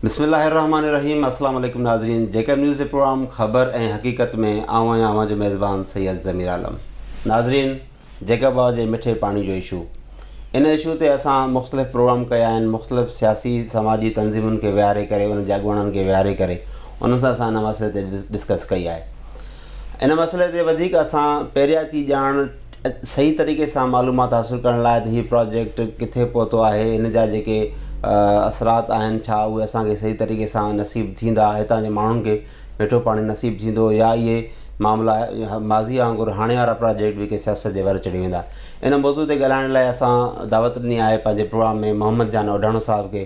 بسم الله الرحمٰن الرحيم اسلام عليڪم ناظرين جي ڪيم نيوز جي پروگرام خبر ۽ حقيقت ۾ آئون آهيان اوهان جو ميزبان سيد ضمير عالم ناظرين جيڪب آء جي مٺي پاڻي جو اشو ان اشو تي اسان مختلف پروگرام ڪيا آهن مختلف سياسي سماجي تنظيمن کي ويهاري ڪري ان جي اڳواڻن کي ويهاري ڪري انهن سان اسان ان مسئلي تي ڊسڪس ڪئي آهي ان مسئلي تي وڌيڪ اسان پيرياتي ڄاڻ صحيح طريقي سان معلومات حاصل ڪرڻ لاء ته هي پراجيڪٽ ڪٿي پهتو آهي هن جا جيڪي اثرات آهن ڇا اهي اسانکي صحيح طريقي سان نصيب ٿيندا هتان جي ماڻهن کي مٺو پاڻي نصيب ٿيندو يا اهي معاملا ماضي وانگر هاڻي وارا پراجيڪٽ به ڪي سياست جي ور چڙهي ويندا ان موضوع تي ڳالهائڻ لاء اسان دعوت ڏني آهي پنهنجي پروگرام ۾ محمد جان اوڍاڻو صاحب کي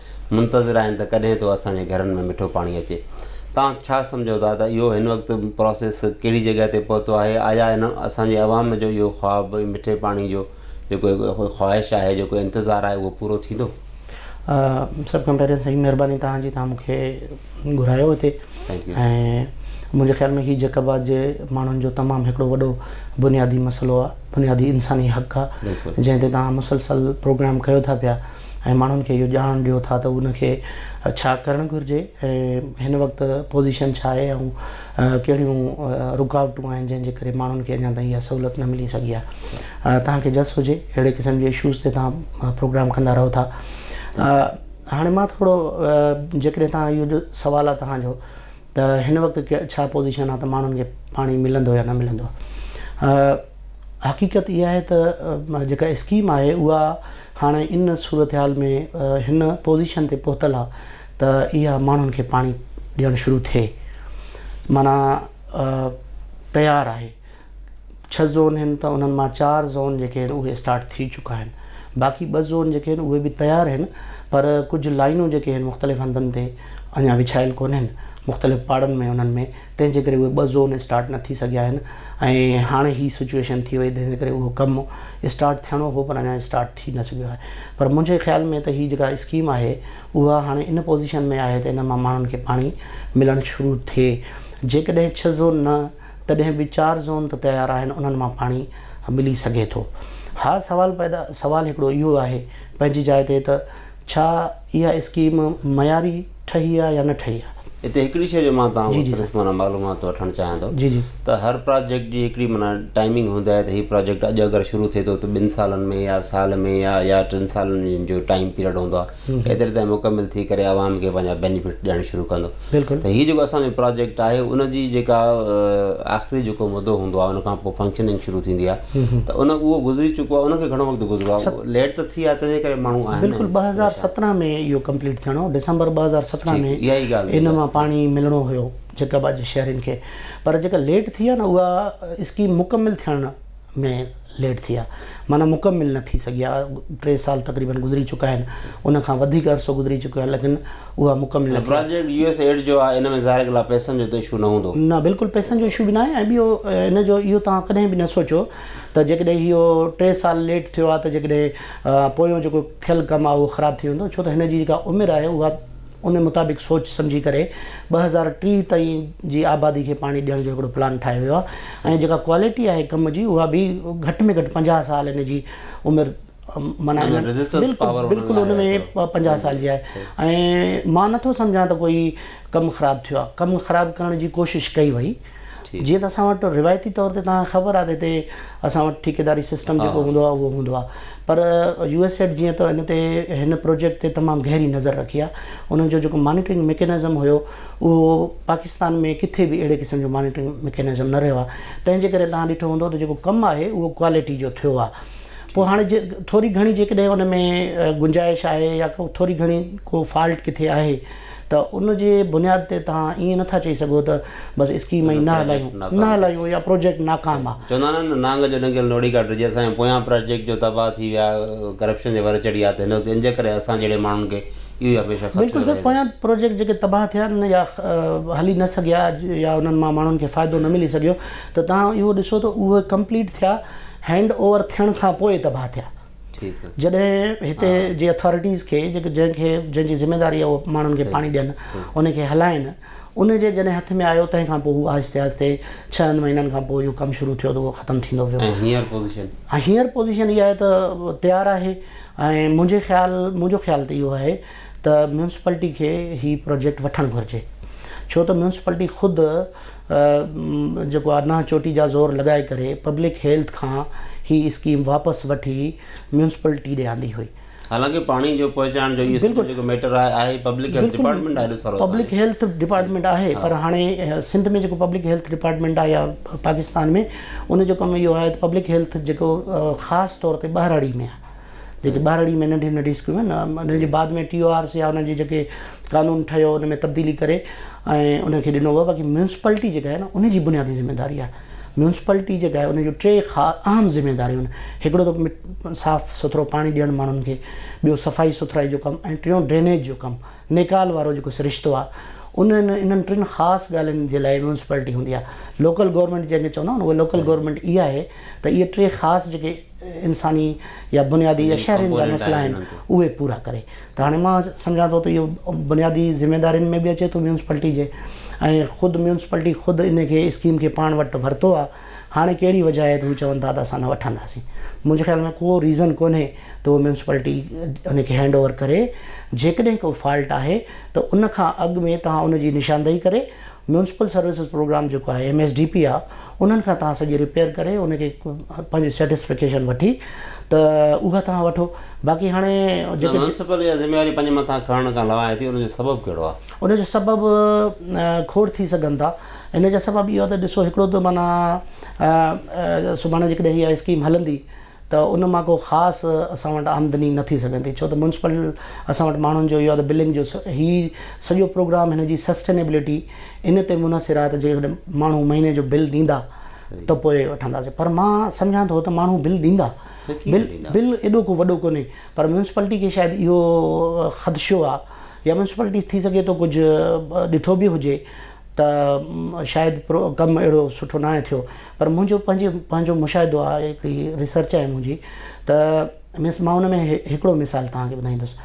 منتظر آهن ته ڪڏهن ٿو اسان جي گهرن ۾ مٺو پاڻي اچي. توهان ڇا سمجهو ٿا ته اهو هن وقت پراسيس ڪهڙي جڳهه تي پهتو آهي؟ آيا ان اسان جي عوام جو اهو خواب مٺي پاڻي جو جيڪو خواهش آهي، جيڪو انتظار آهي اهو پورو ٿيندو؟ سڀ کان پهرين سائين مهرباني توهان جي توهان مون کي گهرايو هتي ۽ منهنجي خيال ۾ هي جيڪب آباد جي ماڻهن جو تمام هڪڙو وڏو بنيادي مسئلو آهي، بنيادي انساني حق آهي جنهن تي توهان مسلسل پروگرام ڪيو ٿا پيا. ۽ ماڻهن کي اهو ڄاڻڻ ڏيو ٿا ته ان کي ڇا ڪرڻ گهرجي ۽ هن وقت پوزيشن ڇا آهي ۽ ڪهڙيون رڪاوٽون آهن جنهن جي ڪري ماڻهن کي اڃا تائين اها سهولت نه ملي سگهي آهي توهان کي جس هجي اهڙي قسم جي اشوز تي توهان پروگرام ڪندا رهو ٿا هاڻي مان ٿورو جيڪڏهن توهان اهو جو سوال آهي توهان جو ته هن وقت ڇا پوزيشن آهي ته ماڻهن کي پاڻي ملندو يا نه ملندو آهي حقيقت اها آهي ته جيڪا اسڪيم آهي اها هاڻي ان صورتحال ۾ هن پوزيشن تي پهتل آهي ته اها ماڻهن کي پاڻي ڏيڻ شروع ٿئي معنيٰ تيار آهي ڇهه زون هن ته انهن مان چار زون جيڪي هن اهي اسٽارٽ ٿي چڪا آهن باقي ٻه زون جيڪي هن اهي به تيار هن پر ڪجهه لائينون جيڪي هن مختلف هنڌن تي اڃا وڇايل ڪونهن مختلف پاڙن ۾ انهن ۾ تنهن جي ڪري اهي ٻه زون اسٽارٽ نه ٿي سگهيا آهن ۽ هاڻي هي سچوئيشن ٿي وئي تنهن جي ڪري اهو ڪم اسٽارٽ ٿيڻو هو پر اڃا اسٽارٽ ٿي نه سگهيو آهي پر منهنجي خيال ۾ ته هي جيڪا اسڪيم آهي اها هاڻي ان پوزيشن ۾ آهي ته ان مان ماڻهن کي پاڻي ملڻ شروع ٿئي جيڪڏهن ڇهه زون نه تڏهن به چار زون ته تيار آهن انهن مان پاڻي ملي سگهي ٿو. ها سوال پيدا سوال هڪڙو اهو آهي پنهنجي جاء تي ته ڇا اها اسڪيم معياري ٺهي آ يا نه ٺهي آ. هتي هڪڙي شيء جو مان توهان کان صرف معنيٰ معلومات وٺڻ چاهيان ٿو ته هر پراجيڪٽ جي هڪڙي معنيٰ ٽائمنگ هوندي آهي ته هي پراجيڪٽ اڄ اگر شروع ٿئي ٿو ته ٻن سالن ۾ يا سال ۾ يا يا ٽن سالن جو ٽائيم پيريڊ هوندو آ ايتري تائين مڪمل ٿي ڪري عوام کي پنهنجا بينيفٽ ڏيڻ شروع ڪندو بلڪل ته هي جيڪو اسان جو پراجيڪٽ آهي ان جي جيڪا آخري جيڪو مدو هوندو آهي ان کان پوء فنڪشننگ شروع ٿيندي آهي ته ان اهو گذري چڪو آهي ان کي گهڻو وقت گذرو آهي ليٽ ته ٿي آهي تنهن جي ڪري ماڻهو آهن بلڪل ٻه هزار سترهن ۾ اهو ڪمپليٽ ٿيڻو هو ڊسمبر ٻه هزار سترهن ۾ اها ئي ڳالهه ان مان پاڻي ملڻو هيو جيڪب آباد جي شهرين کي پر جيڪا ليٽ ٿي آهي نه اها اسڪيم مڪمل ٿيڻ ۾ ليٽ ٿيا معنيٰ مڪمل نه ٿي سگهيا ٽي سال تقريبن گذري چڪا آهن ان کان وڌيڪ عرصو گذري چڪو آهي ليڪن اها مڪمل نه ٿي پراجيڪٽ يو ايس ايڊ جو آهي ان ۾ ظاهر ڳالهه آهي پئسن جو ته اشو نه هوندو. نه بلڪل پئسن جو اشو به ناهي ۽ ٻيو ان جو اهو توهان ڪڏهن به نه سوچو ته جيڪڏهن اهو ٽي سال ليٽ ٿيو آهي ته جيڪڏهن پويون جيڪو ٿيل ڪم آهي اهو خراب ٿي ويندو ڇو ته هن جي جيڪا عمر آهي اها ان مطابق سوچ سمجهي ڪري ٻه هزار ٽيهه تائين جي آبادي کي پاڻي ڏيڻ جو هڪڙو پلان ٺاهيو ويو آهي ۽ جيڪا ڪوالٽي آهي ڪم جي اها به گهٽ ۾ گهٽ پنجاهه سال ان جي عمر معنيٰ بلڪل ان ۾ پنجاهه سال جي آهي ۽ مان نٿو سمجهان ته ڪوئي ڪم خراب ٿيو آهي ڪم خراب ڪرڻ جي ڪوشش ڪئي وئي جيئن ته اسان وٽ روايتي طور تي توهان کي خبر آهي ته هتي اسان وٽ ٺيڪيداري سسٽم جيڪو هوندو آهي اهو هوندو آهي پر يو ايس ايڊ جيئن ته هن تي هن پروجيڪٽ تي تمام گهري نظر رکي آهي انهن جو جيڪو مانيٽرنگ ميڪينزم هيو اهو پاڪستان ۾ ڪٿي به اهڙي قسم جو مانيٽرنگ ميڪينزم نه رهيو آهي تنهن جي ڪري توهان ڏٺو هوندو ته جيڪو ڪم آهي اهو ڪوالٽي جو ٿيو آهي پوء هاڻي جي ٿوري گهڻي جيڪڏهن ان ۾ گنجائش آهي يا ڪو ٿوري گهڻي ڪو فالٽ ڪٿي آهي ته ان جي بنياد تي توهان ائين نه ٿا چئي سگهو ته بس اسڪيم ائين نه هلايون نه هلايون يا پروجيڪٽ ناڪام آ. چوندا آهن نه نانگ جو ڏنگيل نوڙي ڪا ڊڄي اسان جا پويان پراجيڪٽ جو تباهه ٿي ويا ڪرپشن جي ور چڙهي آ ته هن وقت ان جي ڪري اسان جهڙي ماڻهن کي اهو ئي هميشه خدشو رهي ٿو. بلڪل سر پويان پروجيڪٽ جيڪي تباهه ٿيا آهن يا هلي نه سگهيا يا انهن مان ماڻهن کي فائدو نه ملي سگهيو ته توهان اهو ڏسو ته اهي ڪمپليٽ ٿيا هينڊ اوور ٿيڻ کان پوء تباهه ٿيا. جڏهن هتي جي اٿارٽيز کي جنهن کي جنهن جي ذميواري آهي اهي ماڻهن کي پاڻي ڏين ان کي هلائين ان جي جڏهن هٿ ۾ آيو تنهن کان پوء هو آهستي آهستي ڇهن مهينن کان پوء اهو ڪم شروع ٿيو ته اهو ختم ٿيندو ويو ۽ هينئر پوزيشن هينئر پوزيشن اها آهي ته تيار آهي ۽ منهنجي خيال منهنجو خيال ته اهو آهي ته ميونسپلٽي کي هي پروجيڪٽ وٺڻ گهرجي ڇو ته ميونسپلٽي خود جيڪو آ نه چوٽي جا زور لڳائي ڪري پبلڪ هيلٿ کان هي اسڪيم واپس وٺي ميونسپلٽي ڏي آندي هئي. حالانڪه پاڻي جو پهچائڻ جو هي سڄو جيڪو ميٽر آهي آهي پبلڪ هيلٿ ڊپارٽمينٽ آهي ايڏو سارو پبلڪ هيلٿ ڊپارٽمينٽ آهي پر هاڻي سنڌ ۾ جيڪو پبلڪ هيلٿ ڊپارٽمينٽ آهي يا پاڪستان ۾ ان جو ڪم اهو آهي ته پبلڪ هيلٿ جيڪو خاص طور تي ٻهراڙي ۾ آهي جيڪي ٻاراڙي ۾ ننڍيون ننڍيون اسڪولون آهن نا انهن جي بعد ۾ ٽي او آرس يا انهن جي جيڪي قانون ٺهيو ان ۾ تبديلي ڪري ۽ انهن کي ڏنو ويو باقي ميونسپلٽي جيڪا آهي نا ان جي بنيادي ذميواري آهي ميونسپلٽي جيڪا آهي ان جون ٽي خا اهم ذميواريون آهن هڪڙو ته مٽ صاف سٿرو پاڻي ڏيڻ ماڻهن کي ٻيو صفائي سٿرائي جو ڪم ۽ ٽيون ڊرينيج جو ڪم نيڪال وارو جيڪو سرشتو آهي انهن انهن ٽن خاص ڳالهين جي لاء ميونسپلٽي هوندي آهي لوڪل گورنمينٽ جنهن کي چوندا آهيون اها لوڪل گورنمينٽ اها آهي ته اهي ٽي خاص جيڪي انساني يا بنيادي يا شهرين جا مسئلا آهن اهي پورا ڪري ته هاڻي مان سمجهان ٿو ته اهو بنيادي ذميوارين ۾ به اچي ٿو ميونسپلٽي جي ۽ خود ميونسپلٽي خود ان کي اسڪيم کي پاڻ وٽ ورتو آهي هاڻي ڪهڙي وجهه آهي ته هو چون ٿا ته اسان نه وٺنداسين منهنجي خيال ۾ ڪو ريزن ڪونهي ته هو ميونسپلٽي ان کي هينڊ اوور ڪري جيڪڏهن ڪو فالٽ آهي ته ان کان اڳ ۾ توهان ان جي نشاندهي ڪري ميونسپل سروسز پروگرام جيڪو آهي ايم ايس ڊي پي آهي انهن کان توهان سڄي رپيئر ڪري ان کي پنهنجي سيٽسفڪيشن وٺي ته اها توهان وٺو باقي هاڻي جيڪي ميونسپل اها ذميواري پنهنجي مٿان کڻڻ کان لواهي ٿي ان جو سبب ڪهڙو آهي؟ ان جو سبب کوڙ ٿي سگهن ٿا ان جا سبب اهو آهي ته ڏسو هڪڙو ته معنيٰ سڀاڻي جيڪڏهن اها اسڪيم هلندي ته ان مان ڪو خاص اسان وٽ آمدني نه ٿي سگهندي ڇو ته ميونسپل اسان وٽ ماڻهن جو اهو آهي ته بلنگ جو هي سڄو پروگرام هن جي سسٽينيبلٽي ان تي منحصر آهي ته جيڪڏهن ماڻهو مهيني جو بل ڏيندا ته پوء وٺنداسين پر مان سمجهان ٿو ته ماڻهو بل ڏيندا بل بل ايڏو ڪو وڏو ڪونهي پر ميونسپلٽي کي شايد اهو خدشو آهي يا ميونسپلٽي ٿي سگهي ٿو ڪجهه ڏٺو به هجي ته شايد ڪم اهڙو سٺو ناهي ٿيو پر منهنجو پنهنجي پنهنجو مشاهدو آهي هڪڙي ريسرچ آهي منهنجي ته مينس مان ان ۾ هڪڙو مثال توهان کي ٻڌائيندس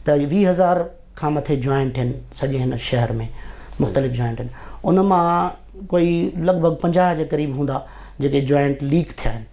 ته ويهه هزار کان مٿي جوائنٽ آهن سڄي هن شهر ۾ مختلف جوائنٽ آهن ان مان ڪوئي لڳ ڀڳ پنجاهه جي قريب هوندا جيڪي جوائنٽ ليڪ ٿيا آهن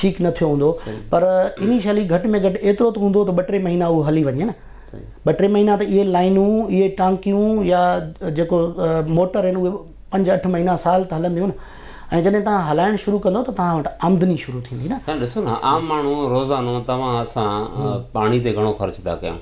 ٺيڪ نه ٿيو هوندو پر انيشلي گهٽ ۾ گهٽ ايترو ته هوندو ته ٻه ٽي مهينا اهو هلي وڃي نه ٻه ٽي مهينا ته اهي لائينون اهي ٽانڪيون يا جيڪو موٽر آهن اهي پنج اٺ مهينا سال ته هلنديون نه ۽ جڏهن تان هلائڻ شروع ڪندو ته تان وٽ آمدني شروع ٿيندي نه سائين ڏسو نه عام ماڻهو روزانو توهان اسان پاڻي تي گهڻو خرچ ٿا ڪيون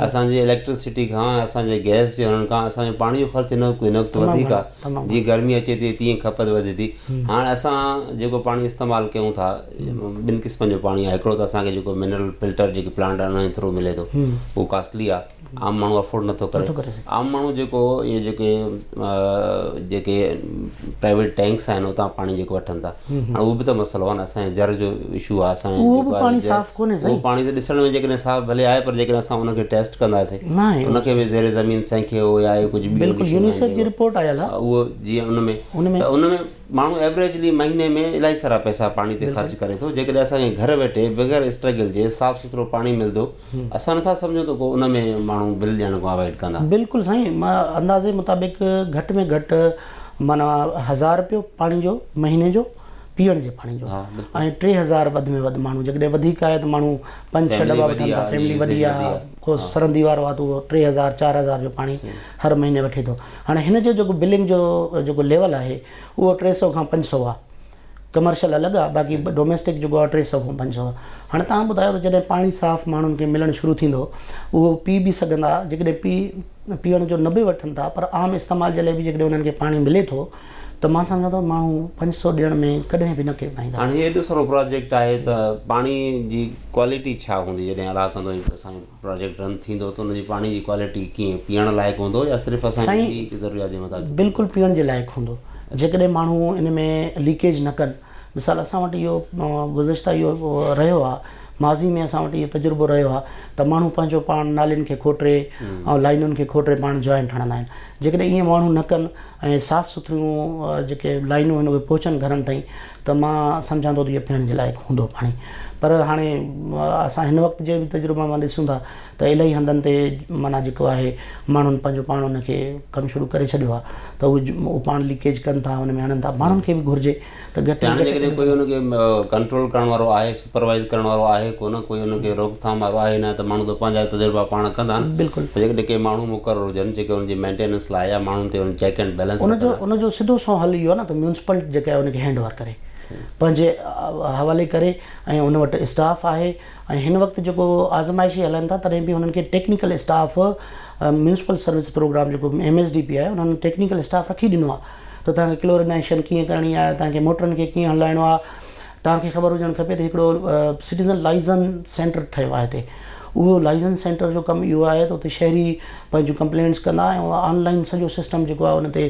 اسان جي اليڪٽرسٽي کان اسان جي گئس جي هلڻ کان اسان جو پاڻي جو خرچ هن وقت هن وقت وڌيڪ آهي جيئن گرمي اچي ٿي تيئن کپت وڌي ٿي هاڻ اسان جيڪو پاڻي استعمال ڪيون ٿا ٻن قسمن جو پاڻي آهي هڪڙو ته اسان کي جيڪو منرل فلٽر جيڪي پلانٽ آهن انهن ٿرو ملي ٿو اهو ڪاسٽلي آهي عام ماڻهو افورڊ نٿو ڪري عام ماڻهو جيڪو اهي جيڪي جيڪي پرائيويٽ ٽينڪس آهن اتان پاڻي جيڪو وٺن ٿا هاڻي اهو به ته مسئلو آهي نه اسان جي زر جو اشو آهي اسان اهو به پاڻي صاف ڪونهي سائين اهو پاڻي ته ڏسڻ ۾ جيڪڏهن صاف ڀلي آهي پر جيڪڏهن اسان ان کي ٽيسٽ ڪنداسين ان کي به زير زمين سنکي هو يا اهي ڪجهه بلڪل يونيسيف جي رپورٽ آيل آهي اهو جيئن ان ۾ ته ان ۾ ماڻهو ايورايجلي مهيني ۾ الائي سارا پئسا پاڻي تي خرچ ڪري ٿو جيڪڏهن اسان کي گهر ويٺي بغير اسٽرگل جي صاف سٿرو پاڻي ملندو اسان نٿا سمجهون ته ڪو ان ۾ ماڻهو بل ڏيڻ کان اوائڊ ڪندا. بلڪل سائين اندازي مطابق گهٽ ۾ گهٽ معنيٰ هزار رپيو پاڻي جو مهيني جو پيئڻ جي پاڻي جو ۽ ٽي هزار وڌ ۾ وڌ ماڻهو جيڪڏهن وڌيڪ آهي ته ماڻهو پنج ڇهه دٻا وٺن ٿا فيملي وڏي آهي ڪو سرندي وارو آهي ته اهو ٽي هزار چار هزار جو پاڻي هر مهيني وٺي ٿو هاڻي هن جو جيڪو بلنگ جو جيڪو ليول آهي اهو ٽي سئو کان پنج سئو آهي ڪمرشل الڳ آ باقي ڊوميسٽڪ جيڪو آ ٽي سؤ کان پنج سؤ آ هاڻي تهان ٻڌايو ته جڏهن پاڻي صاف ماڻهن کي ملڻ شروع ٿيندو اهو پي به سگهندا جيڪڏهن پي پيئڻ جو نه به وٺن ٿا پر عام استعمال جي لاء به جيڪڏهن انهن کي پاڻي ملي ٿو ته مان سمجهان ٿو ماڻهو پنج سؤ ڏيڻ ۾ ڪڏهن به نه ڪيٻائيندا. هاڻي هي ايڏو سارو پراجيڪٽ آهي ته پاڻي جي ڪوالٽي ڇا هوندي جڏهن الاهقندو پراجيڪٽ رن ٿيندو ته ان جي پاڻي جي ڪوالٽي ڪيئن پيئڻ لائق هوندو يا صرف اسان جي ٻي هڪ ضروريات جي مطابق سائين بلڪل پيئڻ جي لائق هوندو جيڪڏهن ماڻهو ان ۾ ليڪيج نه ڪن مثال اسان وٽ اهو گذشته اهو رهيو آهي ماضي ۾ اسان وٽ اهو تجربو رهيو آهي ته ماڻهو پنهنجو پاڻ نالين کي کوٽري ۽ لائينن کي کوٽري پاڻ جوائنٽ هڻندا آهن جيڪڏهن ايئن ماڻهو نه ڪن ۽ صاف سٿريون جيڪي لائينون آهن اهي پهچن گهرن تائين ته مان سمجهان ٿو ته اهو پيئڻ جي لائق هوندو پاڻي پر هاڻي اسان هن وقت جي به تجربن مان ڏسون ٿا ته الائي هنڌن تي معنيٰ جيڪو آهي ماڻهن پنهنجو پاڻ ان کي ڪم شروع ڪري ڇڏيو آهي ته اهو پاڻ ليڪيج ڪن ٿا ان ۾ هڻن ٿا ماڻهن کي به گهرجي ته گهٽ ۾ گهٽ ڪري سگهن ٿا. هاڻي جيڪڏهن ڪوئي ان کي ڪنٽرول ڪرڻ وارو آهي سپروائيز ڪرڻ وارو آهي ڪونه ڪوئي ان کي روڪ ٿام وارو آهي نه ته ماڻهو ته پنهنجا تجربا پاڻ ڪندا آهن بلڪل پر جيڪڏهن ڪي ماڻهو مقرر هجن جيڪي ان جي مينٽيننس لاء يا ماڻهن تي ان چيڪ اينڊ بيلنس ان جو ان جو سڌو سنئون حل اهو آهي نه ته ميونسپلٽ جيڪا آهي ان کي هينڊ اوور ڪري پنهنجي حوالي ڪري ۽ ان وٽ اسٽاف آهي ۽ هن وقت جيڪو آزمائشي هلائن ٿا تڏهن به انهن کي technical staff municipal service program جيڪو ايم ايس ڊي پي آهي انهن ٽيڪنيڪل اسٽاف رکي ڏنو آهي ته تنهن کي ڪلورينائيشن ڪيئن ڪرڻي آهي تنهن کي موٽرن کي ڪيئن هلائڻو آهي توهان کي خبر هجڻ کپي ته هڪڙو سٽيزن لائزن سينٽر ٺهيو آهي هتي اهو لائزن سينٽر جو ڪم اهو آهي ته اتي شهري پنهنجون ڪمپلينٽس ڪندا ۽ اهو آن لائن سڄو سسٽم جيڪو آهي ان تي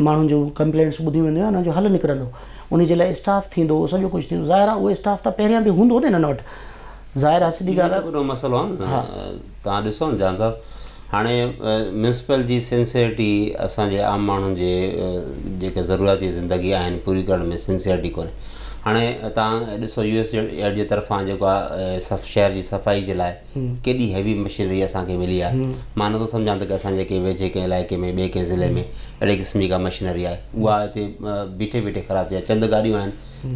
ماڻهن جون ڪمپلينٽس ٻڌيون وينديون ۽ ان جو حل نڪرندو ان جي لاء اسٽاف ٿيندو سڄو ڪجهه ٿيندو ظاهر آهي اهو اسٽاف ته پهريان به هوندو نه انهن وٽ ظاهر آهي سڌي ڳالهه آهي اهو مسئلو آهي نه تهان ڏسو نه جان صاحب هاڻي ميونسپل جي سنسيئرٽي اسان جي عام ماڻهن جي جيڪي ضرورياتي زندگي آهن پوري ڪرڻ ۾ سنسيئرٽي ڪونهي هاڻي تان ڏسو يو ايس ايڊ جي طرفان جيڪو آهي شهر جي صفائي جي لاء ڪيڏي هيوي مشينري اسان کي ملي آهي مان نٿو سمجهان ته اسان جي ڪنهن ويجهي ڪنهن علائقي ۾ ٻئي ڪنهن ضلعي ۾ اهڙي قسم جي ڪا مشينري آهي اها هتي بيٺي بيٺي خراب ٿي وئي چند گاڏيون آهن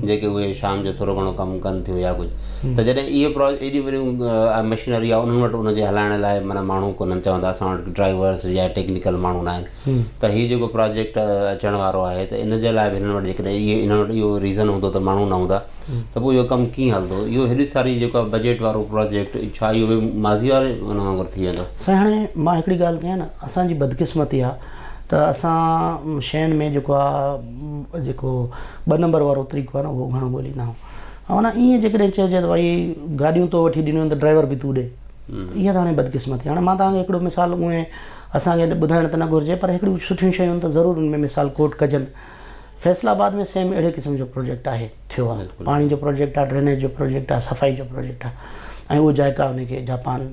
جيڪي اهي شام جو ٿورو گهڻو ڪم ڪن ٿيون يا ڪجهه ته جڏهن اهي پرا ايڏيون وڏيون مشينري آهي انهن وٽ ان جي هلائڻ لاء معنيٰ ماڻهو ڪونهن چون ٿا اسان وٽ ڊرائيورس يا ٽيڪنيڪل ماڻهو نه آهن ته هي جيڪو پراجيڪٽ اچڻ وارو آهي ته ان جي لاء به هنن وٽ جيڪڏهن اهي هنن وٽ اهو ريزن هوندو ته ماڻهو نه هوندا ته پوء اهو ڪم ڪيئن هلندو اهو هيڏي ساري جيڪو آهي بجيٽ وارو پراجيڪٽ ڇا اهو به ماضي واري ان وانگر ٿي ويندو سائين هاڻي مان هڪڙي ڳالهه ڪيان ته اسان جي بدقسمتي آهي ته اسان شين ۾ جيڪو آهي جيڪو ٻه نمبر وارو طريقو آهي نه اهو گهڻو ڳوليندا آهيون معنيٰ ايئن جيڪڏهن چئجي ته ڀائي گاڏيون تو وٺي ڏنيون آهن ته ڊرائيور به تون ڏي ته اها ته هاڻي بدقسمتي هاڻي مان توهان کي هڪڙو مثال اونئي اسان کي ٻڌائڻ ته نه گهرجي پر هڪڙيون سٺيون شيون ته ضرور ان ۾ مثال ڪوٽ ڪجن فيصل آباد ۾ سيم اهڙي قسم جو پروجيڪٽ آهي ٿيو آهي پاڻي جو پروجيڪٽ آهي ڊرينيج جو پروجيڪٽ آهي صفائي جو پروجيڪٽ آهي ۽ اهو جائقا ان کي جاپان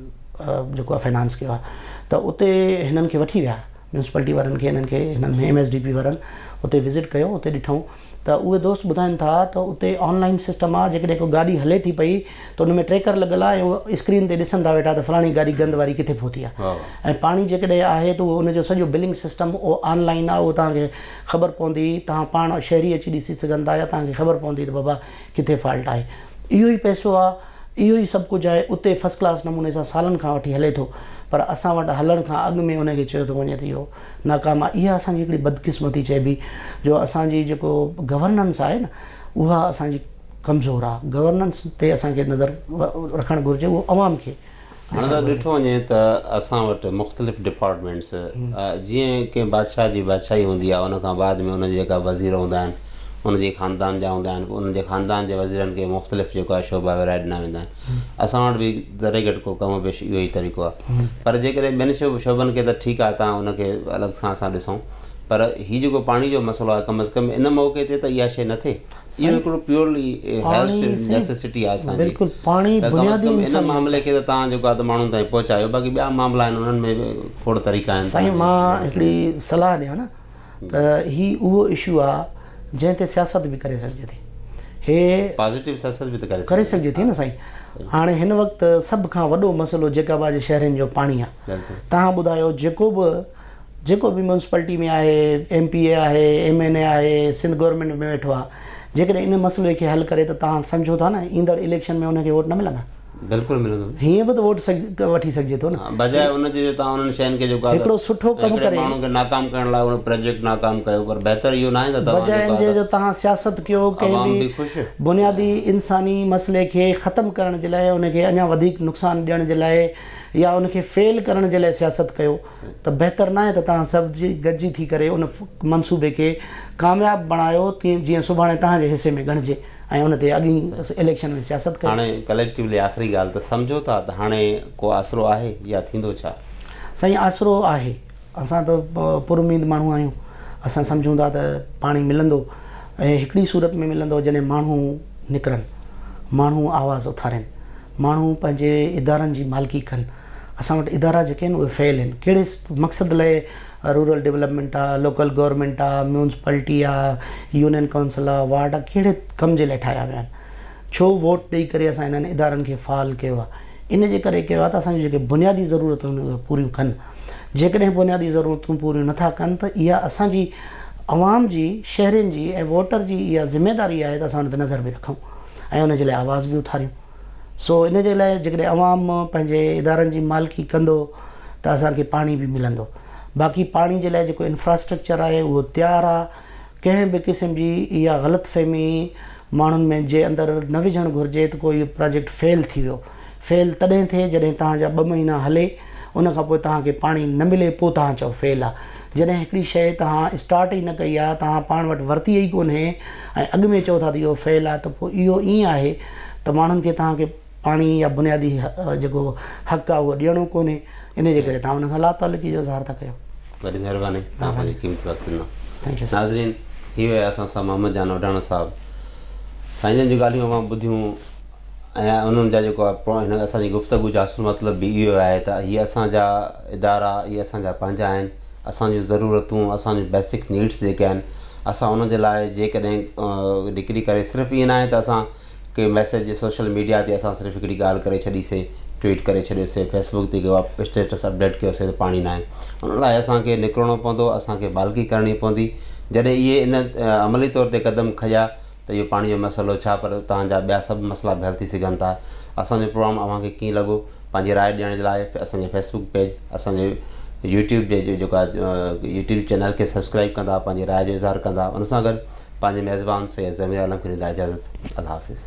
جيڪو آهي فنانس ڪيو آهي ته اتي هنن کي وٺي ويا ميونسپالٽي وارن کي انهن کي هنن ايم ايس ڊي پي وارن اتي وزٽ ڪيو اتي ڏٺائون ته اهي دوست ٻڌائين ٿا ته اتي آن لائين سسٽم آ جيڪڏهن ڪو گاڏي هلي ٿي پئي ته ان ۾ ٽريڪر لڳل آ ۽ اهي اسڪرين تي ڏسن ٿا ويٺا ته فلاڻي گاڏي گند واري ڪٿي پهتي آ ۽ پاڻي جيڪڏهن آهي ته اهو ان جو سڄو بلنگ سسٽم اهو آن لائين آ اهو توهان کي خبر پوندي توهان پاڻ شهري اچي ڏسي سگهن ٿا يا توهان کي خبر پوندي ته بابا ڪٿي فالٽ آهي اهو ئي پئسو آ اهو ئي سڀ ڪجهه آهي، اتي فرسٽ ڪلاس نموني سان سالن کان وٺي هلي ٿو، پر اسان وٽ هلڻ کان اڳ ۾ ان کي چيو ٿو وڃي ته اهو ناڪام آهي. اها اسان جي هڪڙي بدقسمتي چئبي، جو اسان جي جيڪو گورننس آهي نه، اها اسان جي ڪمزور آهي. گورننس تي اسان کي نظر رکڻ گهرجي، اهو عوام کي. هاڻ ته ڏٺو وڃي ته اسان وٽ مختلف ڊپارٽمينٽس جيئن ڪنهن بادشاهه جي بادشاهي هوندي آهي ان کان بعد ۾ ان جا جيڪا وزير هوندا آهن ان جي خاندان جا هوندا آهن ان جي خاندان جي وزيرن کي مختلف جيڪو آهي شعبا ورهائي ڏنا ويندا آهن اسان وٽ به ذري گهٽ ڪو ڪم پيش اهو ئي طريقو آهي پر جيڪڏهن ٻين شعبن کي ته ٺيڪ آهي تان ان کي الڳ سان اسان ڏسون پر هي جيڪو پاڻي جو مسئلو آهي ڪم از ڪم ان موقعي تي ته اها شيء نه ٿئي اهو هڪڙو پيورلي هيلٿ نيسيسٽي آهي اسان جي پاڻي بنيادي ان معاملي کي ته تان جيڪو آهي ته ماڻهن تائين پهچايو باقي ٻيا معاملا آهن انهن ۾ کوڙ طريقا آهن سائين مان هڪڙي صلاح ڏيان نه ته هي اهو اشو آهي جنهن تي سياست به ڪري سگهجي ٿي هي پازيٽو سياست به ته ڪري ڪري سگهجي ٿي نه سائين هاڻي هن وقت سڀ کان وڏو مسئلو جيڪب آباد جي شهرين جو پاڻي آهي تان ٻڌايو جيڪو به جيڪو به ميونسپالٽي ۾ آهي، ايم پي اي آهي، ايم اين اي آهي، سنڌ گورنمينٽ ۾ ويٺو آهي، جيڪڏهن ان مسئلي کي حل ڪري ته توهان سمجهو ٿا نه ايندڙ اليڪشن ۾ ان کي ووٽ نه ملندا؟ بلڪل ملندو نه. هيئن به ته ووٽ وٺي سگهجي ٿو نه. بجاء ان جي جو توهان انهن شين کي جيڪو آهي هڪڙو سٺو ڪم ڪري. ماڻهن کي ناڪام ڪرڻ لاء انهو پراجيڪٽ ناڪام ڪيو پر بهتر اهو ناهي ته توهان جيڪو آهي. بجاء ان جي جو توهان سياست ڪيو ڪنهن به بنيادي انساني مسئلي کي ختم ڪرڻ جي لاء ان کي اڃا وڌيڪ نقصان ڏيڻ جي لاء يا ان کي فيل ڪرڻ جي لاء سياست ڪيو. ته بهتر ناهي ته توهان سڀ گڏجي ٿي ڪري ان منصوبي کي ڪامياب بڻايو جيئن سڀاڻي توهان جي حصي ۾ ڳڻجي ۽ ان تي اڳئين اليڪشن ۾ سياست ڪيو. هاڻي ڪليڪٽيولي آخري ڳالهه ته سمجهو ٿا ته هاڻي ڪو آسرو آهي يا ٿيندو ڇا؟ سائين آسرو آهي اسان ته پر اميد ماڻهو آهيون اسان سمجهون ٿا ته پاڻي ملندو ۽ هڪڙي صورت ۾ ملندو جڏهن ماڻهو نڪرن ماڻهو آواز اٿارين ماڻهو پنهنجي ادارن جي مالڪي ڪن. اسان وٽ ادارا جيڪي آهن اهي فيل آهن ڪهڙي مقصد لاء رورل ڊولپمينٽ آ لوڪل گورمينٽ آ ميونسپلٽي آ يونين ڪونسل آ وارڊ آ ڪهڙي ڪم جي لاء ٺاهيا ويا آهن ڇو ووٽ ڏئي ڪري اسان انهن ادارن کي فعال ڪيو آ ان جي ڪري ڪيو آ ته اسان جون جيڪي بنيادي ضرورتون آهن اهي پوريون ڪن جيڪڏهن بنيادي ضرورتون پوريون نٿا ڪن ته اها اسان جي عوام جي شهرين جي ۽ ووٽر جي اها ذميداري آهي ته اسان ان تي نظر به رکون ۽ ان جي لاء آواز به اٿاريون سو ان جي لاء جيڪڏهن عوام پنهنجي ادارن جي مالڪي ڪندو ته اسان کي پاڻي به ملندو باقي پاڻي جي لاء جيڪو انفراسٽرڪچر آهي اهو تيار آهي ڪنهن به قسم جي اها غلط فهمي ماڻهن ۾ جي اندر نه وجهڻ گهرجي ته ڪو اهو پراجيڪٽ فيل ٿي ويو فيل تڏهن ٿئي جڏهن توهان جا ٻه مهينا هلي ان کان پوء توهان کي پاڻي نه ملي پوء توهان چئو فيل آهي جڏهن هڪڙي شيء توهان اسٽارٽ ئي نه ڪئي آهي، توهان پاڻ وٽ ورتي ئي ڪونهي ۽ اڳ ۾ چئو ٿا ته اهو فيل آهي ته پوء اهو ائين آهي ته ماڻهن کي توهان کي پاڻي يا بنيادي جيڪو حق آهي اهو ڏيڻو ڪونهي انهي جي ڪري توهان ان سان لاتعلقي جو اظهار ٿا ڪيو. وڏي مهرباني توهان پنهنجو قيمتي وقت ڏنو. ناظرين هي هيا اسان سان محمد جان اوڍاڻو صاحب سائين جن جون ڳالهيون اوهان ٻڌيون. ۽ انهن جا جيڪو هن اسان جي گفتگو جو اصل مطلب به اهو آهي ته هي اسان جا ادارا هي اسان جا پنهنجا آهن اسان جون ضرورتون اسان جون بيسڪ نيڊس جيڪي آهن اسان انهن جي لاء جيڪڏهن ڊگري ڪري صرف ائين ناهي ته اسان ڪي ميسيج سوشل ميڊيا تي اسان صرف هڪڙي ڳالهه ڪري ڇڏيسي ٽويٽ ڪري ڇڏيوسي فيسبوڪ تي ڪيو اسٽيٽس اپڊيٽ ڪيوسي ته پاڻي ناهي ان لاء اسانکي نڪرڻو پوندو اسانکي بالڪي ڪرڻي پوندي جڏهن اهي ان عملي طور تي قدم کنيا ته اهو پاڻي جو مسئلو ڇا پر اتان جا ٻيا سڀ مسئلا به حل ٿي سگهن ٿا اسان جو پروگرام اوهان کي ڪيئن لڳو پنهنجي راء ڏيڻ جي لاء اسان جي فيسبوڪ پيج اسان جي يوٽيوب پيج جو جيڪو آهي يوٽيوب چينل کي سبسڪرائب ڪندا پنهنجي راء جو اظهار ڪندا ان سان گڏ پنهنجي ميزبان سيد ضمير عالم کي ڏيندا اجازت الله حافظ